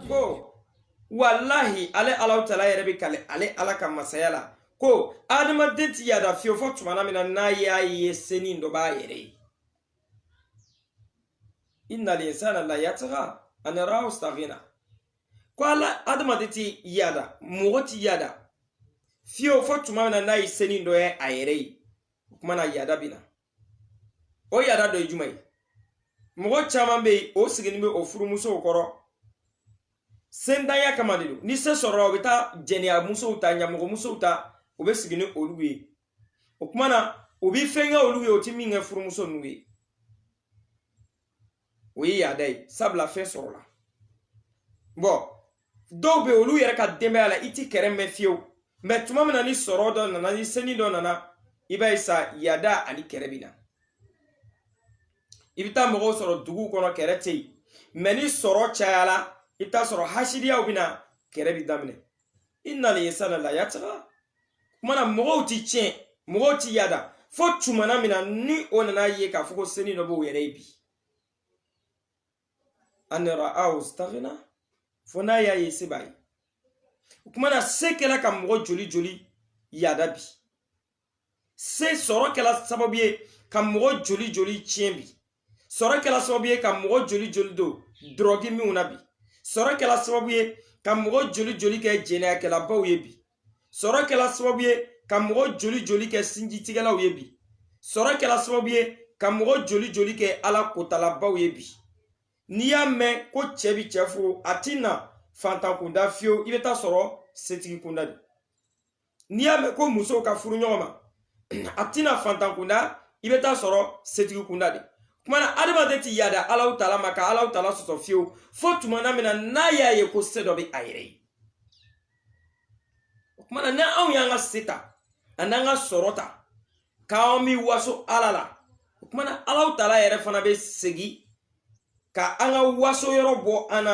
ko walahi ale ala taala yɛrɛ bɛ kali ale ala ka masaya la ko adamaden ti yada fiyewu fo tumana min na n'a y'a ye senin dɔ b'a yɛrɛ ye innal insana la yatga an ra'ahu stagna ko ala adamaden ti yada mɔgɔ ti yada fiyewu fo tuma min na n'a ye senin dɔ ye a yɛrɛ ye o kumana yada bɛ na o yada dɔ ye jumɛn ye mɔgɔ caman bɛ yen o sigilen bɛ o furumusow kɔrɔ sentanya kama de don ni se sɔrɔla o bɛ taa jɛnɛya musow ta ɲamɔgɔ musow ta o bɛ sigi ni olu ye o kumana o bɛ fɛn kɛ olu ye o ti min kɛ furumuso ninnu ye o ye yada ye sabula fɛn sɔrɔla bon dɔw bɛ olu yɛrɛ ka denbaya la i ti kɛrɛ mɛn fiyewu mais tuma min na ni sɔrɔ dɔ nana ni seni dɔ nana i b'a ye sa yada ani kɛrɛ bɛ na i bɛ taa mɔgɔw sɔrɔ duguw kɔnɔ kɛrɛ tɛ yen mais ni sɔrɔ cayala i bɛ taa sɔrɔ hasidiyaw bɛ na kɛrɛ bɛ daminɛ innal insana la yatga kuma na mɔgɔw ti tiɲɛ mɔgɔw ti yada fo tumana min na ni o nana ye k'a fɔ ko seni dɔ b'o yɛrɛ ye bi an ra'ahu stagna fo n'a y'a ye se b'a ye o kuma na se kɛla ka mɔgɔ joli joli yada bi se sɔrɔ kɛla sababu ye ka mɔgɔ joli joli tiɲɛ bi sɔrɔ kɛla sababu ye ka mɔgɔ joli joli don dɔrɔgi minw na bi sɔrɔ kɛla sababu ye ka mɔgɔ joli joli kɛ jɛnɛyakɛlabaw ye bi sɔrɔ kɛla sababu ye ka mɔgɔ joli joli kɛ sinjitigɛlaw ye bi sɔrɔ kɛla sababu ye ka mɔgɔ joli joli kɛ ala kotalabaw ye bi n'i y'a mɛn ko cɛ bi cɛ furu a ti na fantan kunda fiyewu i bɛ taa sɔrɔ setigi kunda de n'i y'a mɛn ko musow ka furu ɲɔgɔn ma a ti na fantan kunda i bɛ taa sɔrɔ setigi kunda de kumana adamaden ti yada ala taala ma ka ala taala sɔsɔ fiyewu fo tumana min na n'a y'a ye ko se dɔ bɛ a yɛrɛ ye o kumana ni anw y'an ka se ta ani an ka sɔrɔ ta k'an bɛ waso ala la o kumana ala taala yɛrɛ fana bɛ segin ka an ka waso yɔrɔ bɔ an na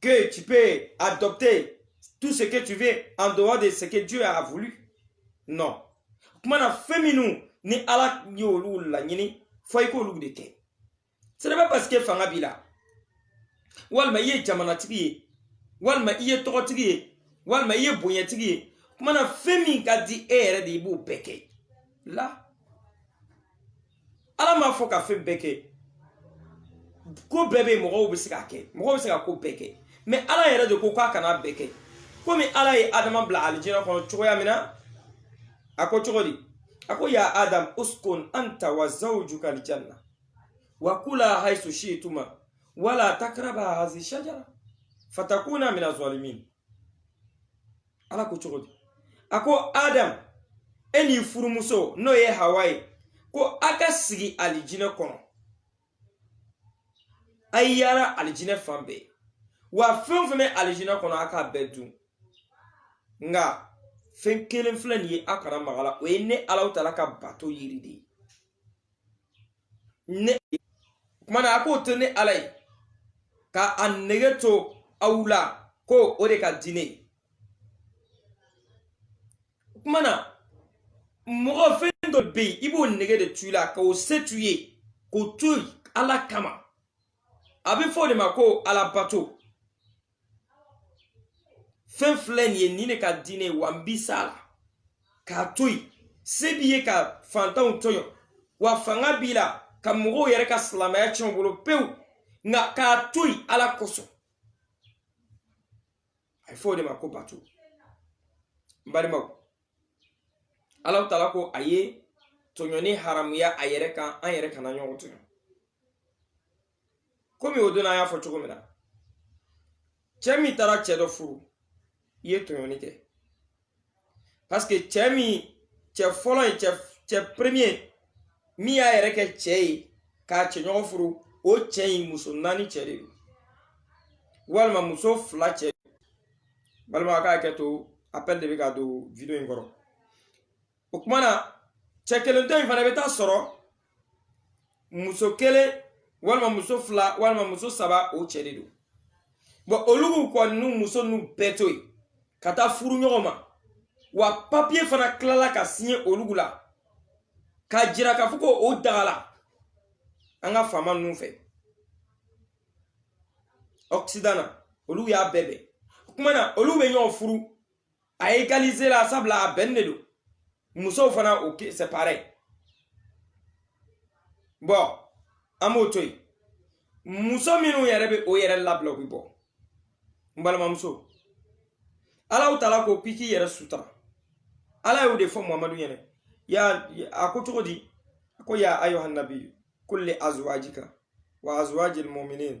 que tu peux adopter tout ce que tu veux en dehors de ce que Dieu a voulu. Non. Kumana fɛn minw ni ala y'olu laɲini fo i k'olu de kɛ. Ce n'est pas parce que fanga b'i la. Walma i ye jamanatigi ye. Walma i ye tɔgɔtigi ye. Walma i ye bonyatigi ye. Kumana fɛn min ka di e yɛrɛ de i b'o bɛɛ kɛ. La ala m'a fɔ ka fɛn bɛɛ kɛ ko bɛɛ bɛ mɔgɔw bɛ se k'a kɛ mɔgɔw bɛ se ka ko bɛɛ kɛ mɛ ala yɛrɛ de ko k'a kana bɛɛ kɛ komi ala ye adama bila alijinɛ kɔnɔ cogoya min na a ko cogo di a ko ya adam uskun anta wa zawjuka aljanna wa kula haythu shi'tuma wala takraba hadhihi shajara fatakuna min azalimin ala ko cogo di a ko adam e n'i furumuso n'o ye hawa ye ko a ka sigi alijinɛ kɔnɔ a ye yaala alijinɛ fan bɛɛ wa fɛn o fɛn bɛ alijinɛ kɔnɔ a k'a bɛɛ dun nka fɛn kelen filɛ nin ye a kana maga a la o ye ne alaw taala ka bato yiri de ye ne kuma na a k'o to ne ala ye ka a nege to aw la ko o de ka di ne ye o kuma na mɔgɔ fɛn dɔ bɛ yen i b'o nege de to i la ka o se to i ye k'o to ala kama a bɛ fɔ o de ma ko alabato fɛn filɛ nin ye nin de ka di ne ye wa n bi s'a la k'a to yen se b'i ye ka fantanw tɔɲɔ wa fanga b'i la ka mɔgɔw yɛrɛ ka silamɛya tiɲɛ u bolo pewu nka k'a to yen ala kosɔn a ye fɔ o de ma ko bato n balimaw ala taala ko a ye tɔɲɔni haramuya a yɛrɛ kan an yɛrɛ kana ɲɔgɔn tɔɲɔ komi o don na an y'a fɔ cogo min na cɛ min taara cɛ dɔ furu i ye tɔɲɔni kɛ paseke cɛ min cɛ fɔlɔ ye cɛ premier min y'a yɛrɛ kɛ cɛ ye k'a cɛ ɲɔgɔn furu o cɛ in muso naani cɛ de don walima muso fila cɛ balimaw ka hakɛ to appel de bɛ ka don video in kɔrɔ o kuma na cɛ kelen tɔ in fana i bɛ taa a sɔrɔ muso kelen walima muso fila walima muso saba o cɛ de don bɔn olu kɔni y'u muso ninnu bɛɛ to yen ka taa furu ɲɔgɔn ma wa papiye fana tilala ka siɲɛ olu la k'a jira k'a fɔ ko o dagala an ka faama ninnu fɛ ɔkisidan na olu y'a bɛɛ bɛn o kuma na olu bɛ ɲɔgɔn furu a égaliser la sabula a bɛnnen don musow fana o c'est pareil bɔn an b'o to yen muso minnu yɛrɛ bɛ u yɛrɛ labila u bɛ bɔ n balimamuso alaw taala ko k'i k'i yɛrɛ sutura ala y'o de fɔ muhamadu ɲɛna ya a ko cogo di a ko ya ayuha nabiyu kulli azwajika wa azwajil muminin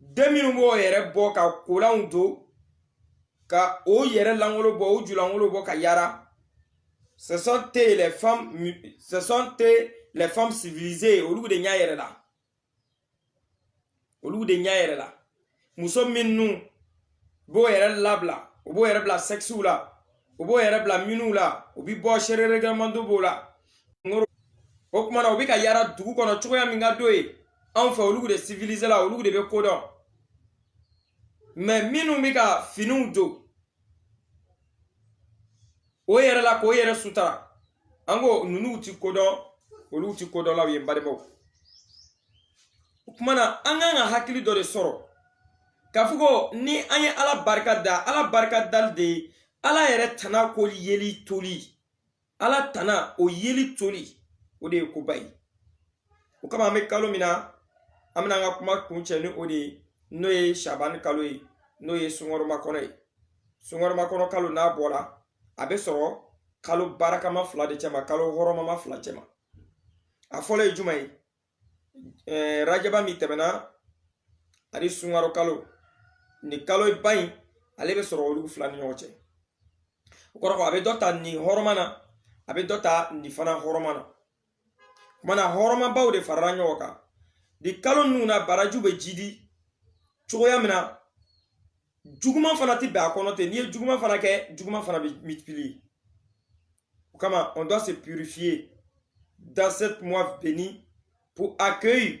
den minnu b'o yɛrɛ bɔ ka kolanw don ka o yɛrɛ langolo bɔ o julangolo bɔ ka yara ce sont les femmes civilisées olu de ɲa yɛrɛla olu de ɲa yɛrɛla muso minnu u b'o yɛrɛ labila u b'o yɛrɛ bila sɛgisiw la u b'o yɛrɛ bila miniw la u bi bɔ seere règlement b'o la o kuma na u bɛ ka yaara dugu kɔnɔ cogoya min ka d'o ye anw fɛ olu de sivilisela olu de bɛ ko dɔn mais minnu bɛ ka finiw don o yɛrɛ la k'o yɛrɛ sutara an ko ninnu ti ko dɔn olu ti kodɔnlaw ye balimaw o kuma na an kan ka hakili dɔ de sɔrɔ k'a fɔ ko ni an ye ala barika da ala barika dali de ye ala yɛrɛ tana ko yeli toli ala tana o yeli toli o de ye koba ye o kama an bɛ kalo min na an bɛna an ka kuma kuncɛ ni o de ye n'o ye sabani kalo ye n'o ye sunkaro makɔnɔ ye sunkaro makɔnɔ kalo n'a bɔla a bɛ sɔrɔ kalo barakama fila de cɛma kalo hɔrɔmama fila cɛma a fɔlɔ ye jumɛn ye ɛɛ rajaba min tɛmɛna ani sunkaro kalo nin kaloba in ale bɛ sɔrɔ olu fila ni ɲɔgɔn cɛ o kɔrɔ a bɛ dɔ ta nin hɔrɔma na a bɛ dɔ ta nin fana hɔrɔma na kuma na hɔrɔmabaw de farala ɲɔgɔn kan nin kalo ninnu na baraju bɛ jidi cogoya min na juguman fana tɛ bɛn a kɔnɔ ten n'i ye juguman fana kɛ juguman fana bɛ multiplier o kama on doit se purifier dans cette mois béni pour accueillir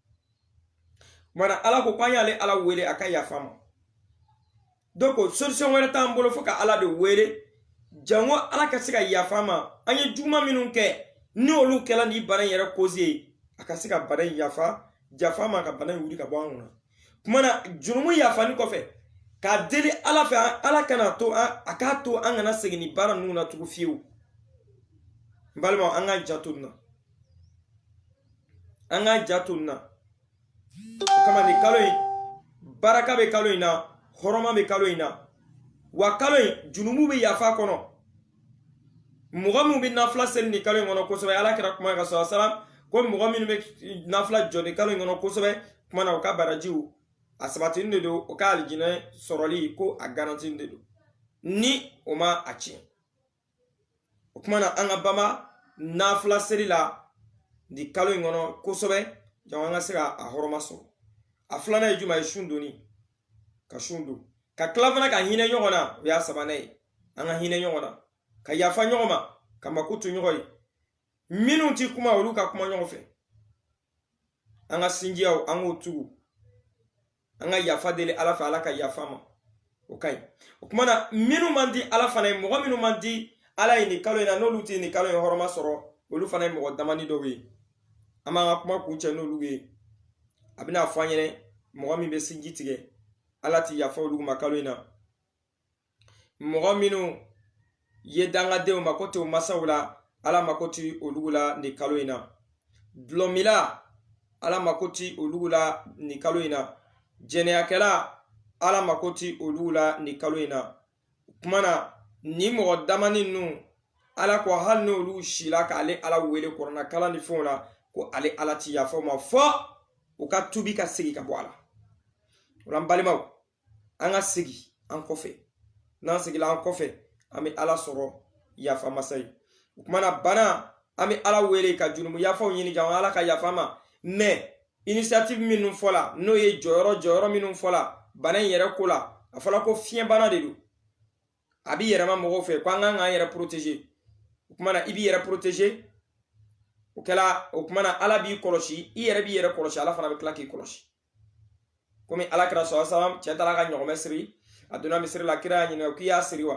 mana ala ko k'an y'ale ala wele a ka yafa an ma donc solution wɛrɛ t'an bolo fo ka ala de wele jango ala ka se ka yafa an ma an ye juguman minnu kɛ ni olu kɛla nin bana in yɛrɛ koze ye a ka se ka bana in yafa yafa an ma ka bana in wuli ka bɔ an kunna kuma na jurumu yafani kɔfɛ k'a deli ala fɛ ala kana to a k'a to an kana segin nin baara ninnu na tugu fiyewu n balimaw an k'an janto nin na an k'an janto nin na o kama nin kalo in baraka bɛ kalo in na hɔrɔma bɛ kalo in na wa kalo in junumu bɛ yafa a kɔnɔ mɔgɔ min bɛ nafila seli nin kalo in kɔnɔ kosɛbɛ ala kira kuma ka salam ko mɔgɔ minnu bɛ nafila jɔ nin kalo in kɔnɔ kosɛbɛ kuma na u ka barajiw a sabatinin de don o ka alijinɛ sɔrɔli ko a garantinin de don ni o ma a tiɲɛ o kuma na an ka bama nafila seli la nin kalo in kɔnɔ kosɛbɛ jango an ka se ka a hɔrɔma sɔrɔ a filanan ye jumɛn ye sun donni ka sun don ka tila fana ka hinɛ ɲɔgɔn na o y'a sabanan ye an ka hinɛ ɲɔgɔn na ka yafa ɲɔgɔn ma ka makoto ɲɔgɔn ye minnu ti kuma olu ka kuma ɲɔgɔn fɛ an ka sinjiyaw an k'o tugu an ka yafa deli ala fɛ ala ka yafa ma o ka ɲi o kumana minnu man di ala fana ye mɔgɔ minnu man di ala ye nin kalo in na n'olu tɛ nin kalo in hɔrɔma sɔrɔ olu fana ye mɔgɔ damani dɔw ye an b'an ka kuma kuncɛ n'olu ye a bɛna fɔ an ɲɛna mɔgɔ min bɛ sinji tigɛ ala ti yafa olu ma kalo in na mɔgɔ minnu ye dangadenw mako t'u masaw la ala mako ti olu la nin kalo in na dulɔmila ala mako ti olu la nin kalo in na jɛnɛyakɛla ala mako ti olu la nin kalo in na o kuma na nin mɔgɔ damani ninnu ala ko hali n'olu sila k'ale ala wele kuranɛ kalan ni fɛnw la ko ale ala ti yafa u ma fɔ u ka tubi ka segin ka bɔ a la o la n balimaw an ka segi an kɔfɛ n'an segila an kɔfɛ an bɛ ala sɔrɔ yafa masa ye o kumana bana an bɛ ala wele ka jurumu yafaw ɲini ka ala ka yafa ma mais initiative minnu fɔla n'o ye jɔyɔrɔ jɔyɔrɔ minnu fɔla bana in yɛrɛ ko la a fɔla ko fiɲɛ bana de don a bi yɛlɛma mɔgɔw fɛ ko an kan k'an yɛrɛ protéger o kumana i b'i yɛrɛ protéger o kɛla o kumana ala b'i kɔlɔsi i yɛrɛ b'i yɛrɛ kɔlɔsi ala fana bɛ tila k'i kɔlɔsi komi ala kira sɔlɔ salam cɛ taara ka ɲɔgɔmɛ siri a donna misiri la kira y'a ɲininka k'i y'a siri wa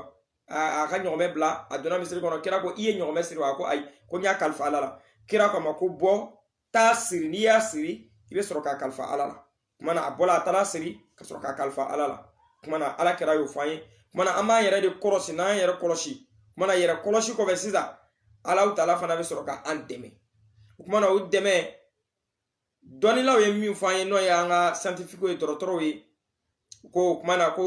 a ka ɲɔgɔmɛ bila a donna misiri kɔnɔ kira ko i ye ɲɔgɔmɛ siri wa a ko ayi ko n y'a kalifa ala la kira ko a ma ko bɔ taa siri n'i y'a siri i bɛ sɔrɔ k'a kalifa ala la kuma na a bɔla a taara siri ka sɔrɔ k'a kalifa ala la kuma na ala kira y'o fɔ an ye kuma na an b'an yɛrɛ de kɔlɔsi n'an yɛrɛ kɔlɔsi kuma na yɛrɛ kɔlɔsi kɔfɛ sisan alahu taala fana bɛ sɔrɔ ka an dɛmɛ o kuma na o dɛmɛ dɔnnilaw ye min fɔ an ye n'o ye an ka scientifiquew ye dɔgɔtɔrɔw ye ko o kumana ko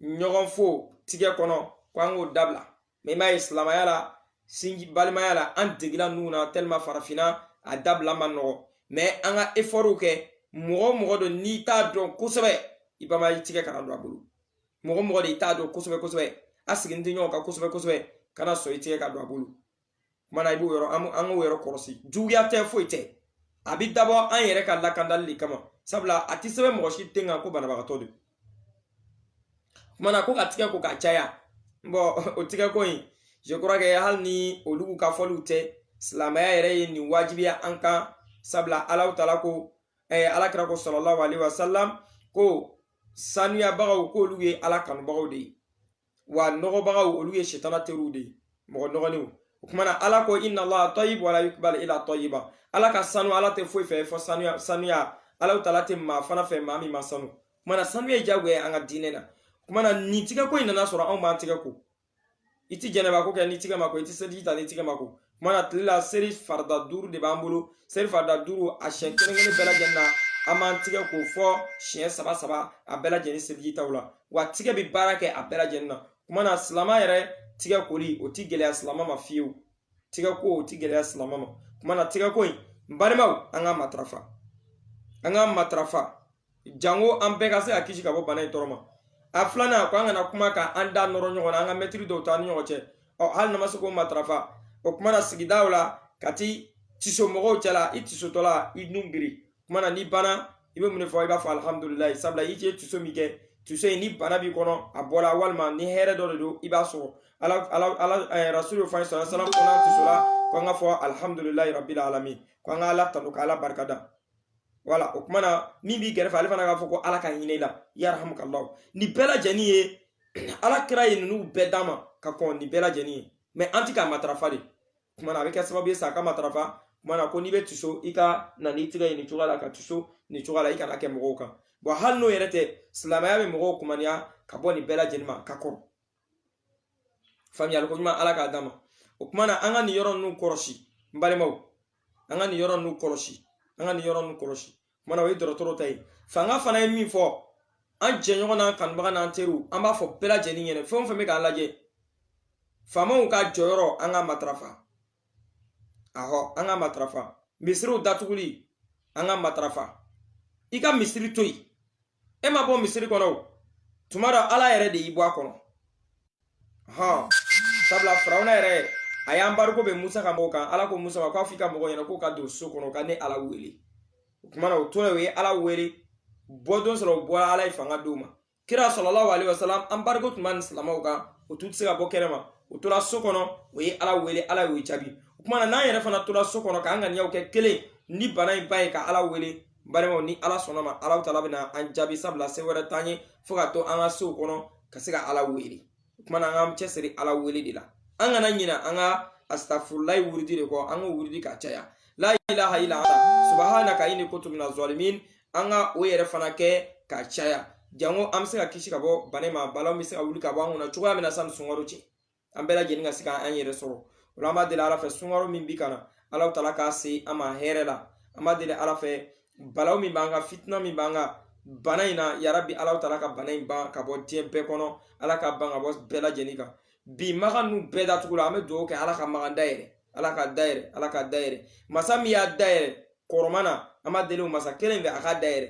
ɲɔgɔn fo tigɛ kɔnɔ ko an k'o dabila mais i m'a ye silamaya la sinji balimaya la an degila ninnu na tellement farafinna a dabila man nɔgɔ mais an ka effortw kɛ mɔgɔ o mɔgɔ don n'i t'a dɔn kosɛbɛ i b'a lajɛ i tigɛ kana don a bolo mɔgɔ o mɔgɔ de i t'a dɔn kosɛbɛ kosɛbɛ a sigilen tɛ ɲɔgɔn kan kosɛbɛ kosɛbɛ kana sɔn i tigɛ ka don a bolo kumana i b'o yɔrɔ an k'o yɔrɔ kɔlɔsi juguya tɛ foyi tɛ a bɛ dabɔ an yɛrɛ ka lakandali de kama sabula a tɛ sɛbɛn mɔgɔ si ten kan ko banabagatɔ don kumana ko ka tigɛ ko ka caya bon o tigɛ ko in je crois que hali ni olu ka fɔliw tɛ silamɛya yɛrɛ ye nin wajibiya an kan sabula alahu taala ko eh, ala kira ko sallallahu alaihi wasallam ko sanuyabagaw k'olu ye ala kanubagaw de ye wa nɔgɔbagaw olu ye sitana teriw de ye mɔgɔ nɔgɔlenw o kumana ala ko inna allaha tayibu wala yukbal ila tayiba ala ka sanu ala tɛ foyi fɛ fɔ sanuya alahu taala tɛ maa fana fɛ maa min man sanu kumana sanuya ye jagoya ye an ka diinɛ na kumana nin tigɛko in nana sɔrɔ anw b'an tigɛ ko i ti janaba ko kɛ ni tigɛ ma ko i ti seliji ta ni tigɛ ma ko kuma na tile la seri farida duuru de b'an bolo seri farida duuru a siɲɛ kelen kelen bɛɛ lajɛlen na an b'an tigɛ ko fo siɲɛ saba saba a bɛɛ lajɛlen selijitaw la wa tigɛ bɛ baara kɛ a bɛɛ lajɛlen na kuma na silama yɛrɛ tigɛ koli o ti gɛlɛya silama ma fiyewu tigɛ ko o ti gɛlɛya silama ma kuma na tigɛ ko in n balimaw an ka matarafa an ka matarafa jango an bɛɛ ka se ka kisi ka bɔ bana in tɔɔrɔ ma a filanan a ko an kana kuma ka an da nɔrɔ ɲɔgɔn na an ka mɛtiri dɔw t'an ni ɲɔgɔn cɛ ɔ hali n'a ma se k'o matarafa o kuma na sigidaw la ka ti tiso mɔgɔw cɛla i tisotɔ la i nun biri kuma na n'i banna i bɛ mun de fɔ i b'a fɔ alihamudulilayi sabula i ye tiso min kɛ tiso in ni bana b'i kɔnɔ a bɔra walima ni hɛrɛ dɔ de don i b'a sɔrɔ ala ala ala eh, rasulu fɔ an ye sallallahu alaihi wasallam ko n'an tisola ko an ka fɔ alihamudulilayi rabbil alamin ko an ka ala tanu ka ala barikada wala o kuma na min b'i kɛrɛfɛ ale fana k'a fɔ ko ala ka hinɛ i la yarhamukallahu nin bɛɛ lajɛlen ye ala kira ye ninnu bɛɛ d'an ma ka kɔn nin bɛɛ lajɛlen ye mais an ti k'a matarafa de kuma na a bɛ kɛ sababu ye sa an ka matarafa kuma na ko n'i bɛ tiso i ka na n'i tigɛ ye nin cogoya la ka tiso nin cogoya la i kana kɛ mɔgɔw kan bon hali n'o yɛrɛ tɛ silamɛya bɛ mɔgɔw kumaniya ka bɔ nin bɛɛ lajɛlen ma ka kɔrɔ faamuyali ko ɲuman ala k'a d'an ma o kuma na an ka nin yɔrɔ ninnu kɔlɔsi n balimaw an ka nin yɔrɔ ninnu kɔlɔsi an ka nin yɔrɔ ninnu kɔlɔsi kuma na o ye dɔgɔtɔrɔw ta ye fanga fana ye min fɔ an jɛɲɔgɔn n'an kanubaga n'an teriw an b'a fɔ bɛɛ lajɛlen ɲɛna fɛn o fɛn bɛ k'an lajɛ faamaw ka jɔyɔrɔ an ka matarafa ahɔ an ka matarafa misiriw datuguli an ka matarafa i ka misiri to yen e ma bɔ misiri kɔnɔ o tuma dɔ ala yɛrɛ de y'i bɔ a kɔnɔ hɔn sabula firawuna yɛrɛ a y'anbariko bɛn musa ka mɔgɔw kan ala ko musa ma k'a f'i ka mɔgɔw ɲɛna k'o ka don so kɔnɔ ka ne ala wele o kuma na o tora o ye ala wele bɔdon sɔrɔ o bɔra ala ye fanga d'o ma kira sallallahu alaihi wasallam anbariko tun b'a ni silamaw kan o tun tɛ se ka bɔ kɛnɛ ma o tora so kɔnɔ o ye ala wele ala y'o jaabi o kuma na n'an yɛrɛ fana tora so kɔnɔ k'an ŋaniyaw kɛ kelen ni bana in ban ye ka ala wele balimaw ni ala sɔnna ma alahu taala bɛna an jaabi sabula se wɛrɛ t'an ye fo ka to an ka sow kɔnɔ ka se ka ala wele o kumana an k'an cɛsiri ala wele de la an kana ɲina an ka astafurulayi wurudi de kɔ an k'o wurudi ka caya la ilaha illa anta subhanaka inni kuntu minaz zalimin an ka o yɛrɛ fana kɛ ka caya jango an bɛ se ka kisi ka bɔ bana ma balaw bɛ se ka wuli ka bɔ an kunna cogoya min na sani sunkaro cɛ an bɛɛ lajɛlen ka se ka an yɛrɛ sɔrɔ o la an b'a deli ala fɛ sunkaro min bi ka na ala taala k'a se an ma hɛrɛ la an b'a deli ala fɛ balaw min b'an kan fitina min b'an kan bana in na yarabi ala taala ka bana in ban ka bɔ diɲɛ bɛɛ kɔnɔ ala k'a ban ka bɔ bɛɛ lajɛlen kan bi maga ninnu bɛɛ datugula an bɛ dugawu kɛ ala ka maga dayɛlɛ ala k'a dayɛlɛ ala k'a dayɛlɛ masa min y'a dayɛlɛ kɔrɔma na an b'a deli o masa kelen fɛ a k'a dayɛlɛ